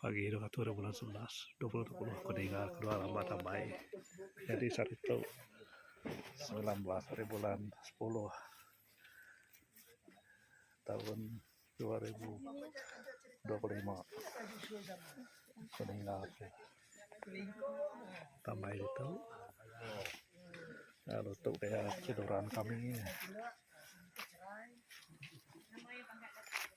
Pagi dua ngatur bulan sebelas dua puluh dua puluh aku ninga kedua rambak tambai nyadi sehari tu semilan belas ari bulan sepuluh taun dua ribu dua puluh lima aku ninga ke tambai ditu lalu tu pia ke duran kami.